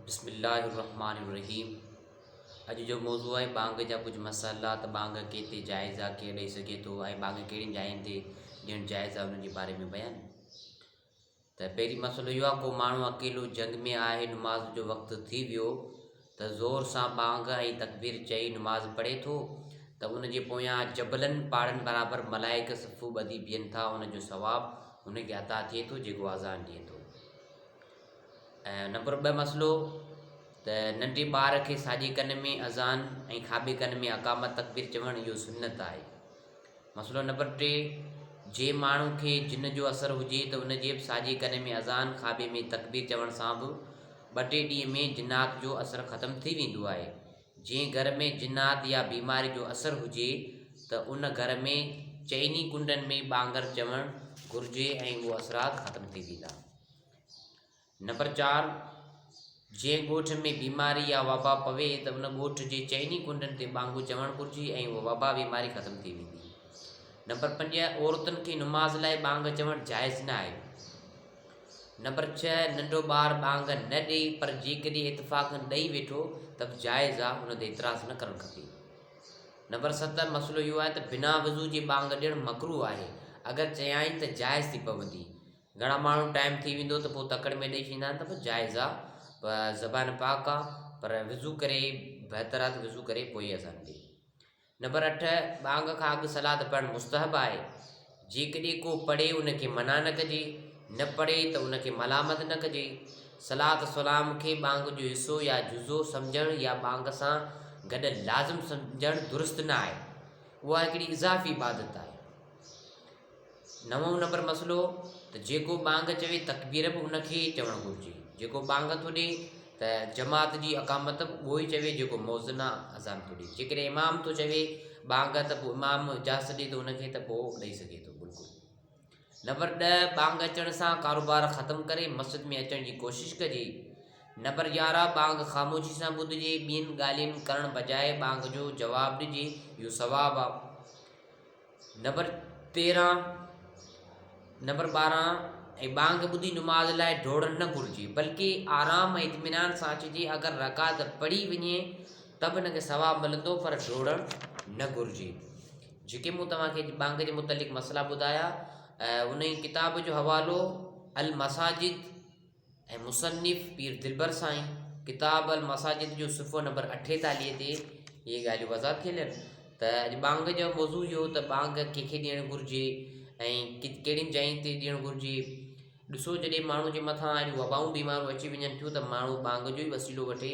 بسم الله الرحمٰن الرحيم اڄ جو موضوع آهي ٻانگ جا ڪجهه مسئلا ته ٻانگ ڪيتري جائز آهي ڪير ڏئي سگهي ٿو ۽ ٻانگ ڪهڙين جاين تي ڏيڻ جائز آهي انهن جي باري ۾ بيان ته پهرين مسئلو اهو آهي ڪو ماڻهو اڪيلو جنگ ۾ آهي نماز جو وقت ٿي ويو ته زور سان ٻانگ ۽ تقبير چئي نماز پڙهي ٿو ته ان جي پويان جبلن پاڙن برابر ملائڪ صفو ٻڌي بيهن ٿا ان جو ثواب هن کي عطا ٿئي ٿو جيڪو آزان ڏئي ٿو ۽ نمبر ٻه مسئلو ته ننڍي ٻار کي ساڄي ڪن ۾ اذان ۽ کاٻي ڪن ۾ اقامت تڪبير چوڻ اهو سنت آهي مسئلو نمبر ٽي جي ماڻهو کي جن جو اثر هجي ته ان جي به ساڄي ڪن ۾ اذان کاٻي ۾ تڪبير چوڻ سان به ٻه ٽي ڏينهن ۾ جنات جو اثر ختم ٿي ويندو آهي جنهن گهر ۾ جنات يا بيماري جو اثر هجي ته ان گهر ۾ چئني ڪنڊن ۾ ٻانگر چوڻ گهرجي ۽ اهو اثرات ختم ٿي ويندا نمبر چار، جنهن ڳوٺ ۾ بيماري يا وبا پوي ته ان ڳوٺ جي چئني ڪنڊن تي ٻانگو چوڻ گهرجي ۽ اها وبا بيماري ختم ٿي ويندي. نمبر پنج، عورتن کي نماز لاء ٻانگ چوڻ جائز نه آهي. نمبر ڇهه، ننڍو ٻار ٻانگ نه ڏئي پر جيڪڏهن اتفاقن ڏئي ويٺو ته به جائز آهي، ان تي اعتراض نه ڪرڻ کپي. نمبر ست، مسئلو اهو آهي ته بنا وضو جي ٻانگ ڏيڻ مڪروه آهي، اگر چيائين ته جائز ٿي پوندي. گهڻا ماڻهو ٽائيم ٿي ويندو ته پوء تڪڙ ۾ ڏئي ڇڏيندا آهن ته به جائز آ پر زبان پاڪ آ پر وضو ڪري بهتر آ ته وضو ڪري پوء اذان ڏي نمبر اٺ ٻانگ کان اڳ صلات پڙهڻ مستحب آهي جيڪڏهن ڪو پڙهي ان کي منع نه ڪجي نه پڙهي ته ان کي ملامت نه ڪجي صلات سلام کي ٻانگ جو حصو يا جزو سمجهڻ يا ٻانگ سان گڏ لازم سمجهڻ درست نه آهي اها هڪڙي اضافي عبادت آهي نوون نمبر مسئلو ته جيڪو ٻانگ چوي تڪبير به ان کي ئي چوڻ گهرجي جيڪو ٻانگ ٿو ڏي ته جماعت جي اقامت به اهو ئي چوي جيڪو موذن آ اذان ٿو ڏي جي ڪڏهن امام ٿو چوي ٻانگ ته پوء امام اجازت ڏي ٿو ان کي ته پوء ڏئي سگهي ٿو بلڪل نمبر ڏه ٻانگ اچڻ سان ڪاروبار ختم ڪري مسجد ۾ اچڻ جي ڪوشش ڪجي نمبر يارهن ٻانگ خاموشي سان ٻڌجي ٻين ڳالهين ڪرڻ بجاء ٻانگ جو جواب ڏجي اهو ثواب آ نمبر تيرهن، نمبر ٻارهن ۽ ٻانگ ٻڌي نماز لاء ڊوڙڻ نه گهرجي بلڪ آرام ۽ اطمينان سان اچجي اگر رڪعت پڙهي وڃي ته به ان کي ثواب ملندو پر ڊوڙڻ نه گهرجي جيڪي مون توهانکي ٻانگ جي متعلق مسئلا ٻڌايا ان ڪتاب جو حوالو المساجد ۽ مصنف پير دلبر سائين ڪتاب المساجد جو صفحو نمبر اٺيتاليهه تي اهي ڳالهيون وضع ٿيل آهن ته اڄ ٻانگ جو موضوع اهو ته ٻانگ ڪنهنکي ڏيڻ گهرجي ۽ ڪهڙين جاين تي ڏيڻ گهرجي ڏسو جڏهن ماڻهو جي مٿان اهڙيون وبائون بيماريون اچي وڃن ٿيون ته ماڻهو ٻانگ جو ئي وسيلو وٺي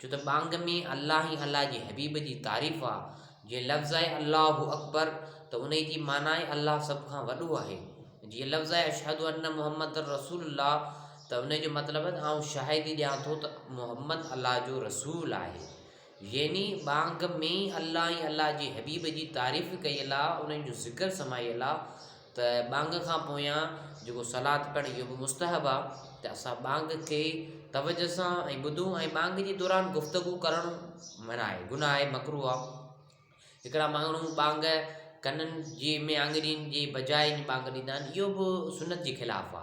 ڇو ته ٻانگ ۾ الله ۽ الله جي حبيب جي تعريف آ، جي لفظ آهي الله اڪبر ته انهي جي معنيٰ آهي الله سڀ کان وڏو آهي، جي لفظ آهي اشهد ان محمدا رسول الله ته انهي جو مطلب آهي ته آئون شاهدي ڏيان ٿو ته محمد الله جو رسول آهي. يعني ٻانگ ۾ الله ۽ الله جي حبيب جي تعريف ڪيل آ، انهي جو ذڪر سمايل آ. ته ٻانگ کان پويان جيڪو صلات پڙهڻ اهو به مستحب آ ته اسان ٻانگ کي توجه سان ۽ ٻڌون ۽ ٻانگ جي دوران گفتگو ڪرڻ منع آهي گناهه آهي مڪروه آ هڪڙا ماڻهو ٻانگ ڪنن جي ۾ آڱرين جي بجاء ٻانگ ڏيندا آهن اهو به سنت جي خلاف آ